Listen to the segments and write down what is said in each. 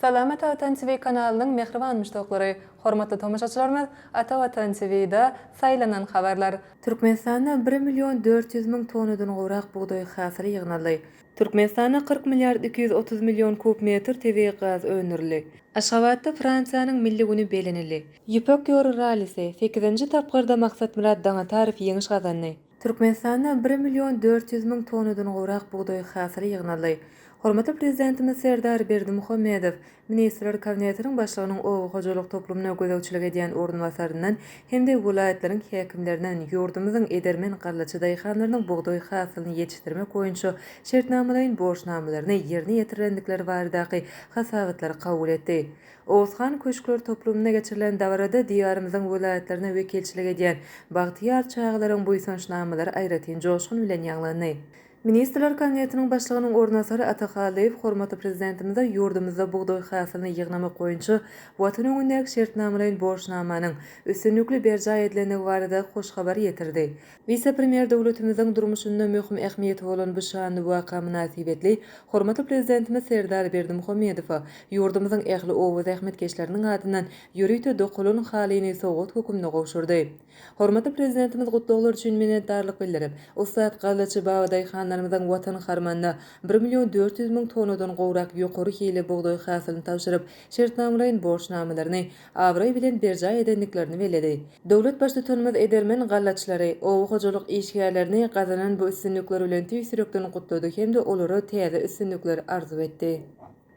Salamat Watan TV kanalynyň mähriban muşdaklary, hormatly tomaşaçylarymyz Ata Watan TV da saýlanan habarlar. Türkmenistanda bir million dört ýüz müň tonnadan gowrak bugdaý hasyly ýygnaldy. Türkmenistanda kyrk milliard iki ýüz otuz million kub metr tebigy gaz öndürildi. Aşgabatda Fransiýanyň Milli güni belenildi. Ýüpek ýoly rallisi, sekizinji tapgyrda Maksatmyrat Daňatarow ýeňiş gazandy. Türkmenistanda bir million dört ýüz müň tonnadan gowrak bugdaý hasyly ýygnaldy. Hormatly Prezidentimiz Serdar Berdimuhamedow Ministrler Kabinetiniň Başlygynyň oba hojalyk toplumyna gözegçilik edýän orunbasaryndan hem-de welaýatlaryň häkimlerinden ýurdumyzyň edermen gallaçy daýhanlarynyň bugdaý hasylyny ýetişdirmek boýunça şertnamalaýyn borçnamalaryny ýerine ýetirilendikleri baradaky hasabatlary kabul etdi. Oguzhan köşkler toplumynda geçirilen dabarada Diýarymyzyň welaýatlaryna wekilçilik edýän bagtyýar çagalaryň buýsanç namalary aýratyn joşgun bilen ýaňlandy. Ministrler Kabinetiniň Başlygynyň orunbasary Ata Hallyýew hormatly Prezidentimize ýurdumyzda bugdaý hasylyny ýygnamak boýunça Watan öňündäki şertnamalaýyn borçnamanyň üstünlikli berjaý edilendigi barada hoş habary ýetirdi Wise-premýer döwletimiziň durmuşynda möhüm ähmiýeti bolan bu şanly waka mynasybetli hormatly Prezidentimiz Serdar Berdimuhamedowa ýurdumyzyň ähli oba zähmetkeşleriniň adyndan ýörite dokalan halyny sowgat hökümde gowşurdy. Hormatly Prezidentimiz gutlaglar üçin minnetdarlyk bildirip, ussat gallaçy babadaýhanlarymyzyň Watan harmanyna bir million dört ýüz müň tonnadan gowrak ýokary hilli bugdaý hasylyny tabşyryp, şertnamalaýyn borçnamalaryny abraý bilen berjaý edendiklerini belledi. Döwlet Baştutanymyz edermen gallaçylary, oba hojalyk işgärlerini gazanan bu üstünlikleri bilen tüýs ýürekden gutlady hem-de olara täze üstünlikler arzuw etdi.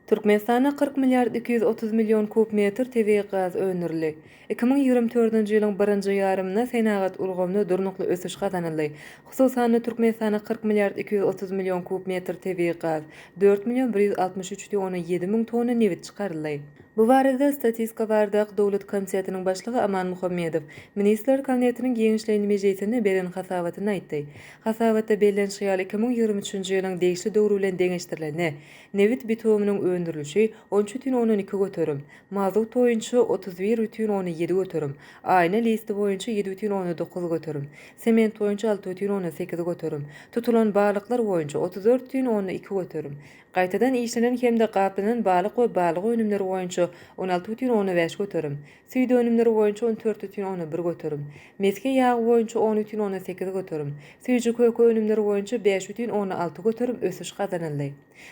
Türkmenistanda kyrk milliard iki ýüz otuz million kub metr tebigy gaz öndürildi. Iki müň ýigrimi dördünji ýylyň birinji ýarymynda senagat ulgamynda durnukly ösüş gazanyldy. Hususan-da, Türkmenistana kyrk milliard iki ýüz otuz million kub metr tebigy gaz, dört million bir ýüz altmyş üç tona ýedi müň tonna nebit çykaryldy. Bu barada Statistika bardak döwlet komitetiniň başlygy Aman Muhammedow Ministrler Kabinetiniň giňişleýin mejlisinde beren hasabatynda aýtdy. Hasabatda bellenişi ýaly, iki müň ýigrimi üçünji ýylyň degişli döwri bilen deňeşdirilende, nebit bitumynyň öndürilişi on üç bütin ondan iki göterim, mazut boýunça otuz bir bütin ondan ýedi göterim, aýna listi boýunça ýedi bütin ondan dokuz göterim, sement boýunça alty bütin ondan sekiz göterim, tutulan balyklar boýunça otuz dört bütin ondan iki göterim, Gaýtadan işlenen hem-de gaplanan balyk we balyk önümleri boýunça on alty bütin onda bäş göterim, süýt önümleri boýunça on dört bütin onda bir göterim, mesge ýagy boýunça on bütin onda sekiz göterim, süýji-köke önümleri boýunça bäş bütin onda alty göterim ösüş gazanyldy.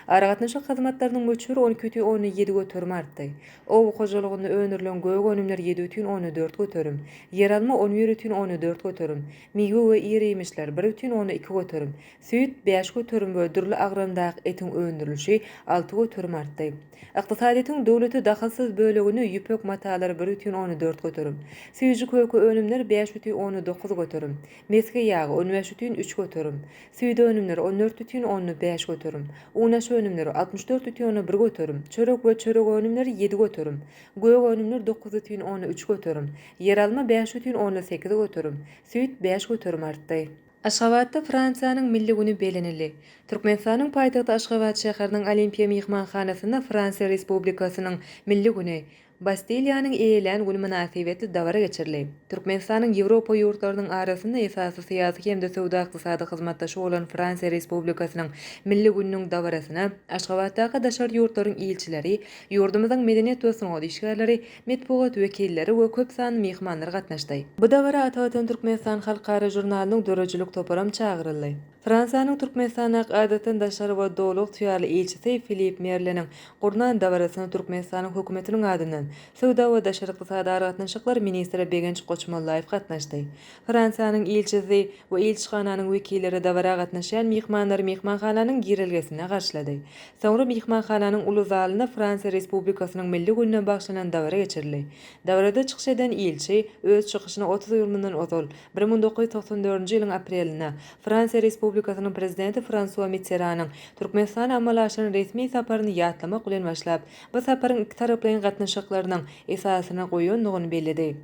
Aragatnaşyk hyzmatlarynyň möçberi on iki bütin onda ýedi göterim artdy. Oba hojalygynda öndürilen gök önümler ýedi bütin onda dört göterim, ýeralma on bir bütin onda dört göterim, miwe we ir-iýmişler bir bütin onda iki göterim, Süýt, bäş göterim we dürli agramdaky etiň öndürilişi alty göterim artdy. Ykdysadyýetiň döwlete dahylsyz bölegini ýüpek matalary bir bütin ony dört göterim, süýji köke önümler bäş bütin ony dokuz göterim, mesge ýagy on bäş bütin üç göterim, süýde önümler on dört bütin ony bäş göterim, unaş önümleri altmyş dört bütin ony bir göterim, çörek we çörek önümleri ýedi göterim, gök önümler dokuz bütin ony üç göterim, ýeralma bäş bütin ony sekiz göterim, süýt bäş göterim artdy. Aşgabatda Fransiýanyň Milli güni bellenildi. Türkmenistanyň paýtagty Aşgabat şäheriniň Olimpiýa myhmanhanasynda Fransiýa Respublikasynyň Milli güni, Bastiliýanyň eýelän güni mynasybetli dabara geçirildi. Türkmenistanyň Ýewropa ýurtlarynyň arasynda esasy syýasy hem-de söwda-ykdysady hyzmatdaşy bolan Fransiýa Respublikasynyň Milli gününiň dabarasyna Aşgabatdaky daşary ýurtlaryň ilçileri, ýurdumyzyň medeniýet we sungat işgärleri, metbugat wekilleri we köp sanly myhmanlar gatnaşdy. Bu dabara Ata Watan Türkmenistan halkara žurnalynyň döredijilik toparam çagyryldy. Fransiýanyň Türkmenistandaky Adatdan daşary we Doly ygtyýarly ilçisi Filip Merleniň gurnan dabarasyna Türkmenistanyň Hökümetiniň adyndan Söwda we daşary ykdysady aragatnaşyklar ministri Begenç Goçmollaýew gatnaşdy. Fransiýanyň ilçisi we ilçihananyň wekilleri dabara gatnaşýan myhmanlary myhmanhananyň girelgesinde garşylady. Soňra myhmanhananyň uly zalynda Fransiýa Respublikasynyň Milli gününe bagyşlanan dabara geçirildi. Dabarada çykyş eden ilçi, öz çykyşyna otuz ýyl mundan ozal, bir müň dokuz ýüz togsan dördünji ýylyň aprelinde, Fransiýa Respublikasynyň Prezidenti Fransua Mitteranyň Türkmenistana amala aşyran resmi saparyny ýatlamak bilen başlap, bu saparyň ikitaraplaýyn gatnaşyklarynyň esasyny goýandygyny belledi.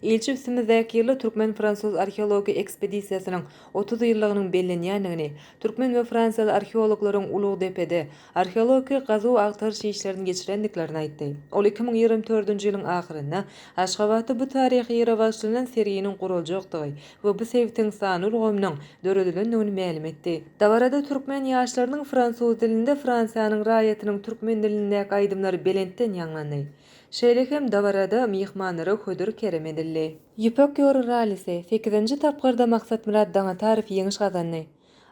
Ilçi üstümizdäki ýylda türkmen-fransuz arheologik ekspedisiýasynyň otuz ýyllygynyň bellenýändigini, türkmen we fransiýaly arheologlaryň Ulugdepede arheologik gazuw-agtaryş işlerini geçirendiklerini aýtdy. Ol iki müň ýigrimi dördünji ýylyň ahyrynda Aşgabatda bu taryhy ýere bagyşlanan serginiň guraljakdygy we bu sebitiň sanly ulgamynyň döredilendigini mälim etdi. Dabarada türkmen ýaşlarynyň fransuz dilinde Fransiýanyň raýatynyň türkmen dilindäki aýdymlary belentden ýaňlandy. Şeýle hem dabarada myhmanlara hödür kerem edildi. Ýüpek ýoly rallisi, sekizinji tapgyrda Maksatmyrat Daňatarow ýeňiş gazandy.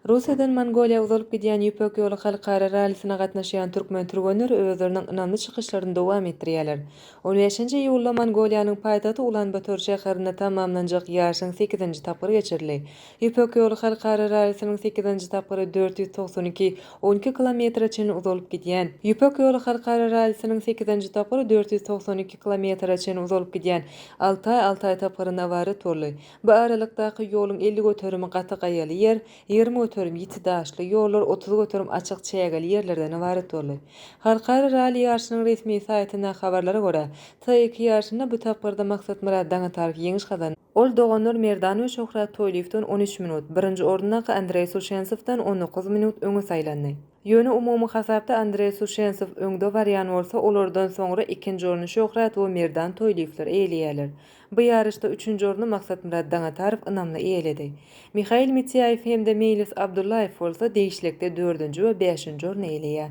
Russiýadan Mongoliýa uzalyp gidýän Ýüpek ýoly halkara rallisine gatnaşýan türkmen türgenleri özleriniň ynamly çykyşlaryny dowam etdirýärler. On bäşinji iýulda Mongoliýanyň paýtagty Ulan-Bator şäherinde tamamlanjak ýaryşyň sekizinji tapgyry geçirildi. Ýüpek ýoly halkara rallisiniň sekizinji tapgyry dört ýüz togsan iki, on iki kilometre çenli uzalyp gidýän Ýüpek ýoly halkara rallisiniň sekizinji tapgyry dört ýüz togsan iki kilometre çenli uzalyp gidýän Altaý, Altaý tapgyrynda ybarat boldy. Bu aralykdaky ýoluň elli göterimi gaty gaýaly ýer, ýigrimi göterim ýiti daşly ýollar, otuz göterim açyk çägeli ýerlerden ybarat boldy. Halkara ralli ýaryşynyň resmi saýtyndaky habarlara görä, T iki ýaryşynda bu tapgyrda Maksatmyrat Daňatarow ýeňiş gazandy. Ol doganlar Merdan we Şöhrat Toýlyýewden on üç minut, birinji orundaky Andreý Suşensowdan on dokuz minut öňe saýlandy. Ýöne umumy hasapda Andreý Suşensow öňde barýan bolsa, olardan soňra ikinji orny Şöhrat we Merdan Toýlyýewler eýeleýärler. Bu ýaryşda üçünji orny Maksatmyrat Daňatarow ynamly eýeledi. Mihail Mitiaýew hem-de Meýlis Abdullaýew bolsa degişlikde dördünji we bäşinji orny eýeleýär.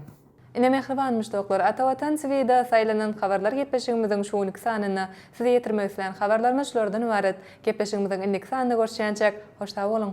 Ine mähriban muşdaklar, Ata Watan TV-de saýlanan habarlar gepleşigimiziň şu günki sanynda size ýetirmek islän habarlarymyz şulardan ybarat. Gepleşigimiziň indiki sanynda görüşýänçäk, hoş sag boluň!